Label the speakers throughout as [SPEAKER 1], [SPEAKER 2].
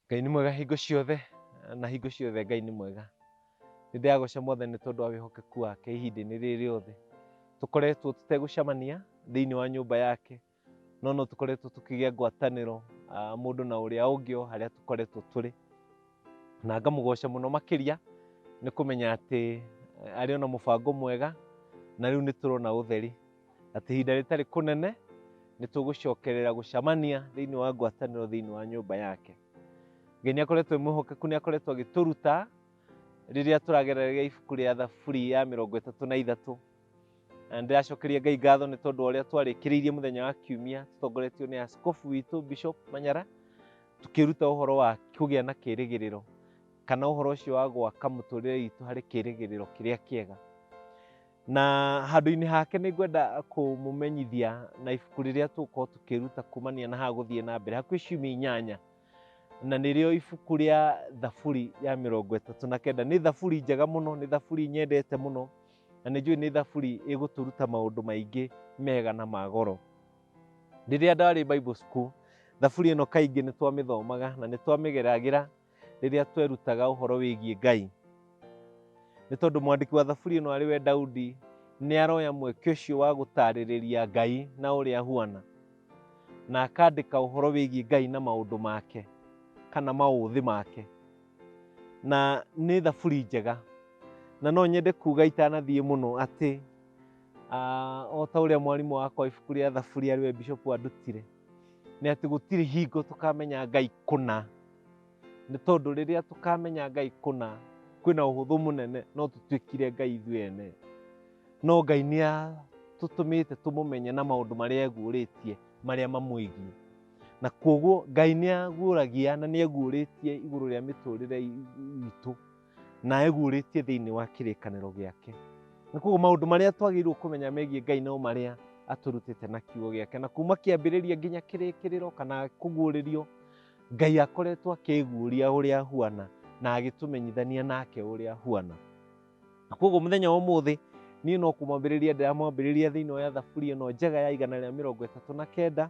[SPEAKER 1] Ngai nĩ mwega hingo ciothe na hingo ciothe Ngai nĩ mwega. Nĩ ndĩragũca mwathani nĩ tondũ wa wĩhokeku wake ihinda-inĩ rĩrĩ rĩothe. Tũkoretwo tũtegũcemania thĩinĩ wa nyũmba yake no no tũkoretwo tũkĩgĩa ngwatanĩro ah, mũndũ na ũrĩa ũngĩ o harĩa tũkoretwo tũrĩ na ngamũgoca mũno makĩria nĩ kũmenya atĩ eh, arĩ ona mũbango mwega na rĩu nĩ tũrona ũtheri atĩ ihinda rĩtarĩ kũnene nĩ tũgũcokerera gũcamania thĩinĩ wa ngwatanĩro thĩinĩ wa nyũmba yake ngai nĩ akoretwo mwĩhokeku nĩ akoretwo agĩtũruta rĩrĩa tũragerera ibuku rĩa thaburi ya mĩrongo ĩtatũ na ithatũ na ndĩracokeria ngai ngatho nĩ tondũ ũrĩa twarĩkĩrĩirie mũthenya wa kiumia tũtongoretio nĩ askofu witũ bishop manyara tũkĩruta ũhoro wa kũgĩa na kĩrĩgĩrĩro kana ũhoro ũcio wa gwaka mũtũrĩre witũ harĩ kĩrĩgĩrĩro kĩrĩa kĩega na handũ-inĩ hake nĩ ngwenda kũmũmenyithia na ibuku rĩrĩa tũgũkorwo tũkĩruta kumania na haha gũthiĩ na mbere hakuhĩ ciumia inyanya na nĩrĩo ibuku rĩa thaburi ya mĩrongo ĩtatũ na kenda nĩ thaburi njega mũno nĩ thaburi nyendete mũno na nĩ njũĩ nĩ thaburi ĩgũtũruta maũndũ maingĩ mega na ma goro rĩrĩa ndarĩ bible school thaburi ĩno kaingĩ nĩ twamĩthomaga na nĩ twamĩgeragĩra rĩrĩa twerutaga ũhoro wĩgiĩ ngai nĩ tondũ mwandĩki wa thaburi ĩno arĩ we daudi nĩ aroya mweke ũcio wa gũtaarĩrĩria ngai na ũrĩa ahuana na akandĩka ũhoro wĩgiĩ ngai na maũndũ make kana maũthĩ make na nĩ thaburi njega na no nyende kuga itanathiĩ mũno atĩ ah, o ta ũrĩa mwarimũ wakwa ibuku rĩa thaburi arĩ we bishop andutire nĩ atĩ gũtirĩ hingo tũkamenya Ngai kũna, nĩ tondũ rĩrĩa tũkamenya Ngai kũna, kwĩna ũhũthũ mũnene no tũtuĩkire Ngai ithuĩ ene. No Ngai nĩ atũtũmĩte tũmũmenye na maũndũ marĩa eguũrĩtie marĩa mamwĩgiĩ. Na kuoguo Ngai nĩ aguũragia na nĩ eguũrĩtie igũrũ rĩa mĩtũrĩre itũ. na eguũrĩtie thĩinĩ wa kĩrĩkanĩro gĩake na koguo maũndũ marĩa twagĩrĩirwo kũmenya megiĩ ngai no marĩa atũrutĩte na kiugo gĩake na kuma kĩambĩrĩria nginya kĩrĩkĩrĩro kana kũguũrĩrio ngai akoretwo akĩguũria ũrĩa ahuana na agĩtũmenyithania nake ũrĩa ahuana na koguo mũthenya wa ũmũthĩ niĩ no kũmwambĩrĩria ndĩramwambĩrĩria thĩinĩ wa thaburi ĩno njega ya igana rĩa mĩrongo ĩtatũ na kenda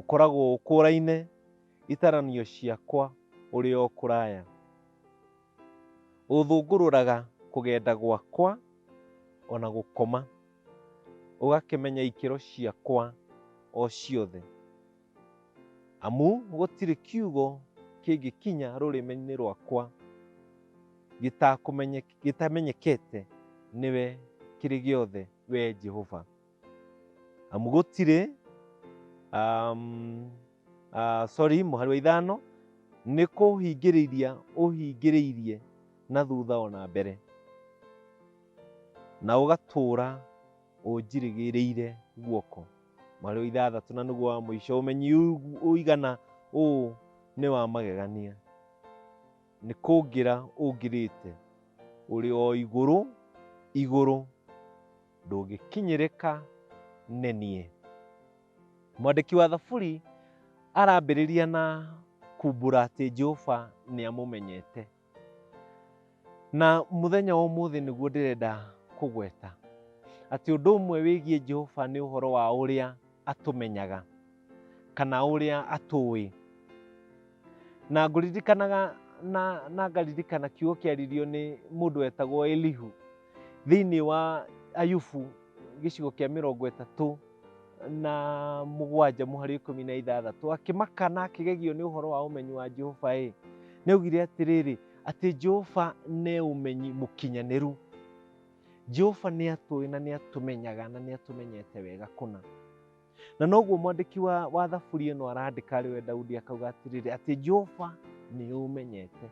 [SPEAKER 1] Ũkoragwo ũkũraine itaranio ciakwa ũrĩ o kũraya. Ũthũngũrũraga kũgenda gwakwa o na gũkoma, ũgakĩmenya ikĩro ciakwa o ciothe. Amu gũtirĩ kiugo kĩngĩkinya rũrĩmĩ-inĩ rwakwa gĩtakũmenye, gĩtamenyekete nĩwe kĩrĩ gĩothe, wee Jehova. amu gũtirĩ um, uh, sorry mũhari wa ithano nĩ kũhingĩrĩria ũhingĩrĩirie na thutha ona mbere na ũgatũũra ũnjirĩgĩrĩire guoko mũhari wa ithathatũ na nĩguo wa mũico ũmenyi ũgu- ũigana ũũ nĩ wa magegania nĩ kũngĩra ũngĩrĩte ũrĩ o igũrũ igũrũ ndũngĩkinyĩrĩka nĩ niĩ. Mwandĩki wa Thaburi arambĩrĩria na kumbura atĩ Jehova nĩ amũmenyete. Na mũthenya wa ũmũthĩ nĩguo ndĩrenda kũgweta atĩ ũndũ ũmwe wĩgiĩ Jehova nĩ ũhoro wa ũrĩa atũmenyaga kana ũrĩa atũĩ na ngũririkanaga na, na ngaririkana kiugo kĩaririo nĩ mũndũ wetagwo elihu thĩinĩ wa ayubu gĩcigo kĩa mĩrongo ĩtatũ na mũgwanja mũhari ikũmi na ithathatũ akĩmaka na akĩgegio nĩ ũhoro wa ũmenyi wa jehova ĩ nĩaugire atĩrĩrĩ atĩ jehova nĩ ũmenyi mũkinyanĩru Jehova nĩ atũĩ na nĩ atũmenyaga na nĩ atũmenyete wega kũna. Na noguo mwandĩki wa, wa thaburi ĩno arandĩka arĩ we Daudi akauga atĩrĩrĩ atĩ Jehova nĩ ũmenyete,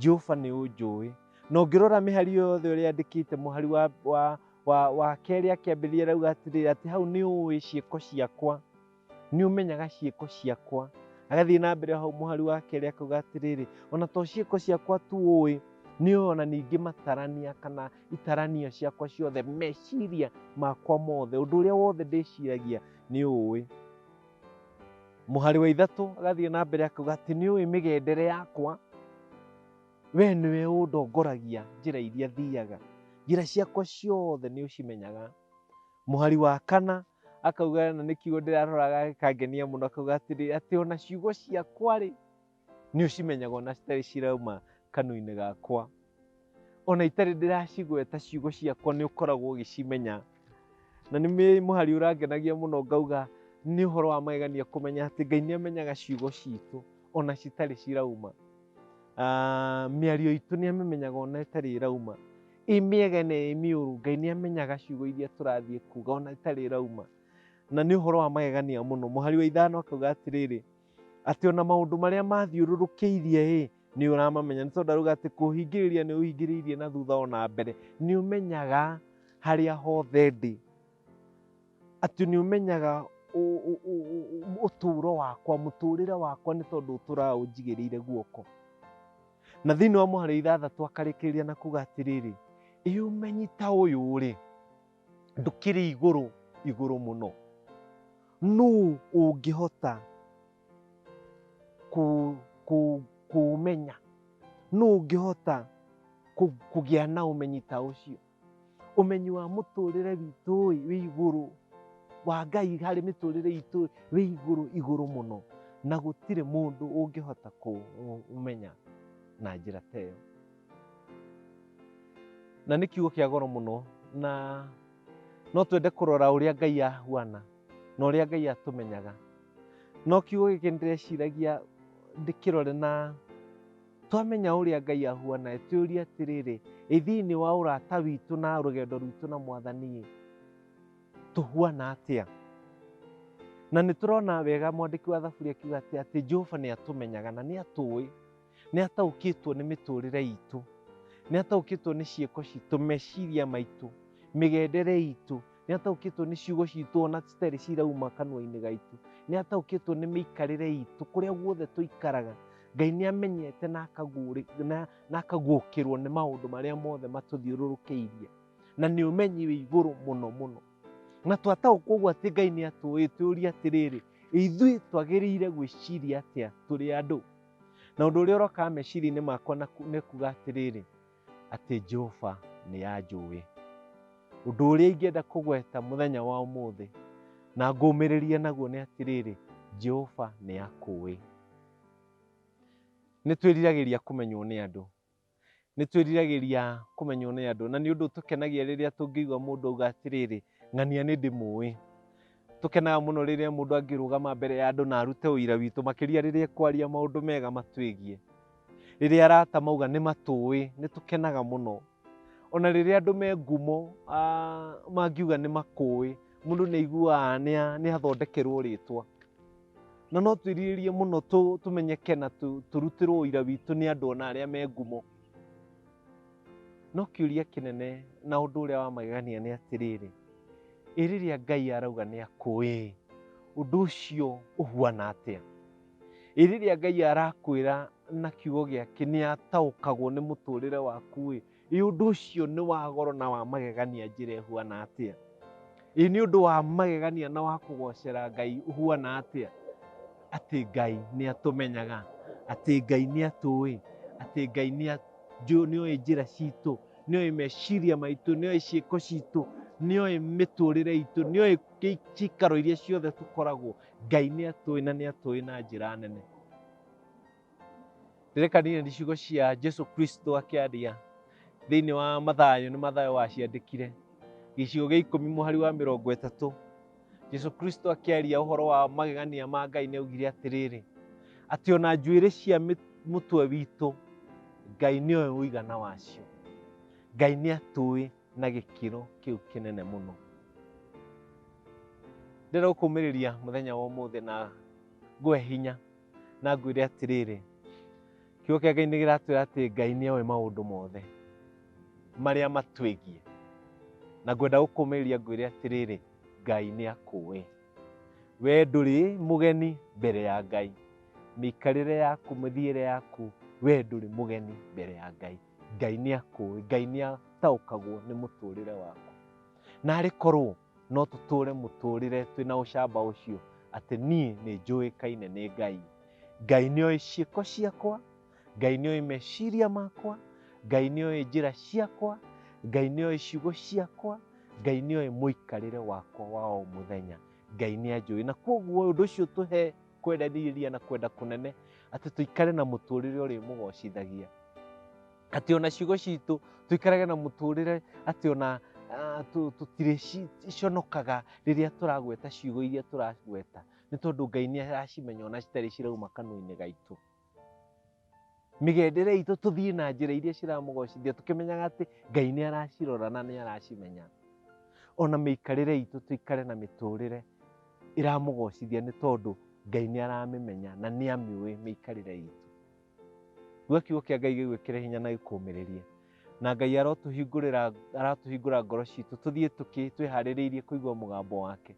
[SPEAKER 1] Jehova nĩ ũnjũĩ. Na ũngĩrora mĩhari ĩyo yothe ũrĩa andĩkĩte mũhari wa, wa, wa, wa kerĩ akĩambĩrĩria arauga atĩrĩrĩ atĩ hau nĩ ũĩ ciĩko ciakwa nĩ ũmenyaga ciĩko ciakwa agathiĩ na mbere hau mũhari wa kerĩ akauga atĩrĩrĩ ona to ciĩko ciakwa tu ũĩ nĩ ũĩ ona ningĩ matarania kana itaranio ciakwa ciothe meciria makwa mothe ũndũ ũrĩa wothe ndĩciragia nĩ ũĩ mũhari wa ithatũ agathiĩ na mbere akauga atĩ nĩ ũĩ mĩgendere yakwa we nĩwe ũndongoragia njĩra iria thiaga njĩra ciakwa ciothe nĩ ũcimenyaga Mũhari wa kana akauga na nĩ kiugo ndĩraroraga gĩkangenia mũno akauga atĩrĩ atĩ ona ciugo ciakwa-rĩ nĩ ũcimenyaga ona citarĩ cirauma kanua-inĩ gakwa ona itarĩ ndĩracigweta ciugo ciakwa nĩ ũkoragwo ũgĩcimenya na nĩ mũhari ũrangenagia mũno ngauga nĩ ũhoro wa magegania kũmenya atĩ Ngai nĩ amenyaga ciugo citũ ona citarĩ cirauma. Ah, mĩario itũ nĩ amĩmenyaga ona ĩtarĩ ĩrauma. ĩ mĩega na ĩ mĩũru ngai nĩ amenyaga ciugo iria tũrathiĩ kuga ona itarĩ irauma na nĩ ũhoro wa magegania mũno mũhari wa ithano akauga atĩrĩrĩ atĩ ona maũndũ marĩa mathiũrũrũkĩirie ĩ nĩ ũramamenya nĩ tondũ arauga atĩ kũhingĩrĩria nĩ ũhingĩrĩirie na thutha ona mbere nĩ ũmenyaga harĩa hothe ndĩ atĩ nĩ ũmenyaga ũ- ũ- ũ- ũ- ũtũũro wakwa mũtũũrĩre wakwa nĩ tondũ ũtũraga ũnjigĩrĩire guoko na thĩinĩ wa mũhari ithathatũ akarĩkĩrĩria na kuga atĩrĩrĩ ĩ ũmenyi ta ũyũ rĩ ndũkĩrĩ igũrũ igũrũ mũno nũ ũngĩhota kũ- kũ- kũũmenya nũ ũngĩhota kũ- kũgĩa na ũmenyi ta ũcio ũmenyi wa mũtũrĩre witũ wĩ igũrũ wa Ngai harĩ mĩtũrĩre itũ wĩ igũrũ igũrũ mũno, na gũtirĩ mũndũ ũngĩhota kũmenya na njĩra ta ĩyo. Na nĩ kiugo kĩa goro mũno, na no twende kũrora ũrĩa Ngai ahuana na ũrĩa Ngai atũmenyaga. No kiugo gĩkĩ nĩ ndĩreciragia ndĩkĩrore na Twamenya ũrĩa Ngai ahuana, twĩũrie atĩrĩrĩ, ĩ thĩinĩ wa ũrata witũ na rũgendo rwitũ na mwathani tũhuana atĩa? Na nĩ tũrona wega mwandĩki wa thaburi akiuga atĩ atĩ Jehova nĩ atũmenyaga na nĩ atũĩ, nĩ ataũkĩtwo nĩ mĩtũrĩre itũ, nĩ ataũkĩtwo nĩ ciĩko citũ, meciria maitũ, mĩgendere itũ, nĩ ataũkĩtwo nĩ ciugo citũ ona citarĩ cirauma kanua-inĩ gaitũ nĩ ataũkĩtwo nĩ mĩikarĩre itũ kũrĩa guothe tũikaraga ngai nĩ amenyete na akagũrĩ- na- na akaguũkĩrwo nĩ maũndũ marĩa mothe matũthiũrũrũkĩirie na nĩ ũmenyi wĩ igũrũ mũno mũno na twataũkwo ũguo atĩ ngai nĩ atũĩ tũũria atĩrĩrĩ ithuĩ twagĩrĩire gwĩciria atĩa tũrĩ andũ na ũndũ ũrĩa ũrokaga meciria-inĩ makwa na ku- nĩ kuga atĩrĩrĩ atĩ Jehova nĩ anjũĩ. Ũndũ ũrĩa ingĩenda kũgweta mũthenya wa ũmũthĩ na ngũmĩrĩrie naguo nĩ atĩrĩrĩ, Jehova nĩ akũĩ. Nĩ twĩriragĩria kũmenywo nĩ andũ, nĩ twĩriragĩria kũmenywo nĩ andũ, na nĩ ũndũ ũtũkenagia rĩrĩa tũngĩigua mũndũ auga atĩrĩrĩ, Ng'ania nĩ ndĩmũĩ. Tũkenaga mũno rĩrĩa mũndũ angĩrũgama mbere ya andũ na arute ũira witũ, makĩria rĩrĩa ekwaria maũndũ mega matwĩgiĩ. Rĩrĩa arata mauga nĩ matũĩ, nĩ tũkenaga mũno. O na rĩrĩa andũ me ngumo mangiuga nĩ makũĩ, mũndũ nĩ aiguaga nĩ athondekerũo rĩtwa. Na no twĩrirĩrie mũno tũmenyeke na tũrutĩrũo ũira witũ nĩ andũ o na arĩa me ngumo. no kĩũria kĩnene na ũndũ ũrĩa wa magegania nĩ atĩrĩrĩ ĩ rĩrĩa ngai arauga nĩ akũĩ ũndũ ũcio ũhuana atĩa ĩ rĩrĩa ngai arakwĩra na kiugo gĩake nĩ ataũkagwo nĩ mũtũrĩre waku ĩ ĩ ũndũ ũcio nĩ wa goro na wa magegania njĩra ĩhuana atĩa Ĩ nĩ ũndũ wa magegania na wa kũgocera Ngai ũhuana atĩa? Atĩ Ngai nĩ atũmenyaga, atĩ Ngai nĩ atũĩ, atĩ Ngai nĩ a- njũ- nĩ oĩ njĩra citũ, nĩ oĩ meciria maitũ, nĩ oĩ ciĩko citũ, nĩ oĩ mĩtũrĩre itũ, nĩ oĩ gĩ- cikaro iria ciothe tũkoragwo. Ngai nĩ atũĩ na nĩ atũĩ na njĩra nene. Ndĩrekanire nĩ ciugo cia Jesu Kristo akĩaria thĩinĩ wa Mathayo, nĩ Mathayo waciandĩkire gĩcigo gĩa ikũmi mũhari wa mĩrongo ĩtatũ. Jesu Kristo akĩaria ũhoro wa magegania ma Ngai nĩ augire atĩrĩrĩ, atĩ ona njuĩrĩ cia mũtwe witũ Ngai nĩ oĩ ũigana wacio. Ngai nĩ atũĩ na gĩkĩro kĩu kĩnene mũno. Ndĩrokũmĩrĩria mũthenya wa ũmũthĩ na ngwe hinya na ngwĩre atĩrĩrĩ kiugo kĩa ngai nĩ kĩratwĩra atĩ ngai nĩ oĩ maũndũ mothe marĩa matwĩgiĩ na ngwenda gũkũmĩrĩria ngwĩre atĩrĩrĩ ngai nĩ akũĩ we ndũrĩ mũgeni mbere ya ngai mĩikarĩre yaku mĩthiĩre yaku we ndũrĩ mũgeni mbere ya ngai ngai nĩ akũĩ ngai nĩ ataũkagwo nĩ mũtũrĩre waku narĩ korwo no tũtũũre mũtũũrĩre twĩna ũcamba ũcio atĩ niĩ nĩ njũĩkaine nĩ ngai ngai nĩ oĩ ciĩko ciakwa ngai nĩ oĩ meciria makwa ngai nĩ oĩ njĩra ciakwa ngai nĩ oĩ ciugo ciakwa ngai nĩ oĩ mũikarĩre wakwa wa o mũthenya ngai nĩ anjũĩ na kwoguo ũndũ ũcio tũhe kwendanĩria na kwenda kũnene atĩ tũikare na mũtũũrĩre ũrĩmũgocithagia atĩ ona ciugo citũ tũikarage na mũtũrĩre atĩ ona ah, tũ- tũtirĩconokaga rĩrĩa tũragweta ciugo iria tũragweta nĩ tondũ ngai nĩ aracimenya ona citarĩ cirauma kanua-inĩ gaitũ mĩgendere itũ tũthiĩ na njĩra iria ciramũgocithia tũkĩmenyaga atĩ ngai nĩ aracirora na nĩ aracimenya ona mĩikarĩre itũ tũikare na mĩtũrĩre ĩramũgocithia nĩ tondũ ngai nĩ aramĩmenya na nĩ amĩũĩ mĩikarĩre itũ Gwe kiugo kia Ngai gĩgwĩkĩre hinya na gĩkũũmĩrĩrie. Na Ngai arotũhingũrĩra aratũhingũra ngoro citũ tũthiĩ tũkĩ twĩharĩrĩirie kũigua mũgambo wake.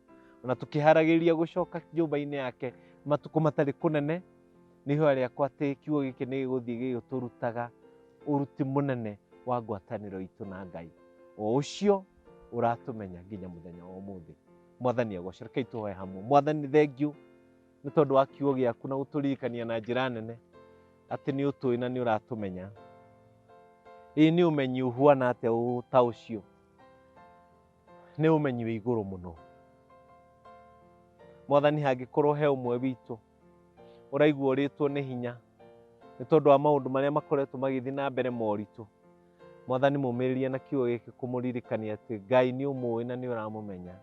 [SPEAKER 1] Ona tũkĩharagĩrĩria gũcoka nyũmba-inĩ yake matukũ matarĩ kũnene nĩ ihoya rĩakwa atĩ kiugo gĩkĩ nĩ gĩgũthiĩ gĩgĩtũrutaga ũruti mũnene wa ngwatanĩro itũ na Ngai. O ũcio ũratũmenya nginya mũthenya wa ũmũthĩ. Mwathani agocere. Rekei tũhoe hamwe. Mwathani thengiũ nĩ tondũ wa kiugo gĩaku na gũtũririkania na njĩra nene atĩ nĩ ũtũĩ na nĩ ũratũmenya ĩĩ nĩ ũmenyi ũhuana atĩa ũ- ta ũcio nĩ ũmenyi wĩ igũrũ mũno mwathani hangĩkorwo he ũmwe witũ ũraigua ũrĩtwo nĩ hinya nĩ tondũ wa maũndũ marĩa makoretwo magĩthiĩ na mbere moritũ mwathani mũmĩrĩrie na kiugo gĩkĩ kũmũririkania atĩ ngai nĩ ũmũĩ na nĩ ũramũmenya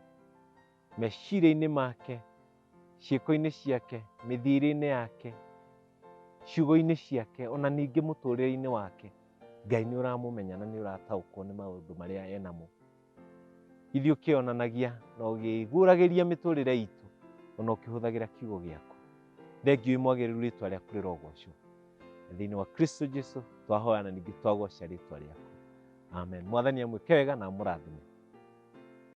[SPEAKER 1] meciria-inĩ make, ciĩko-inĩ ciake, mĩthiĩre-inĩ yake, ciugo-inĩ ciake, ona ningĩ mũtũrĩre-inĩ wake, Ngai nĩ ũramũmenya na nĩ ũrataũkwo nĩ maũndũ marĩa enamo. Ithuĩ ũkĩonanagia na ũgĩguũragĩria mĩtũrĩre itũ ona ũkĩhũthagĩra kiugo gĩaku. Thengiũ imwagĩrĩru rĩtwa rĩaku rĩrogocwo. Na thĩinĩ wa Kristo Jesu twahoya na ningĩ twagoca rĩtwa rĩaku. Amen. Mwathani amwĩke wega na amũrathime.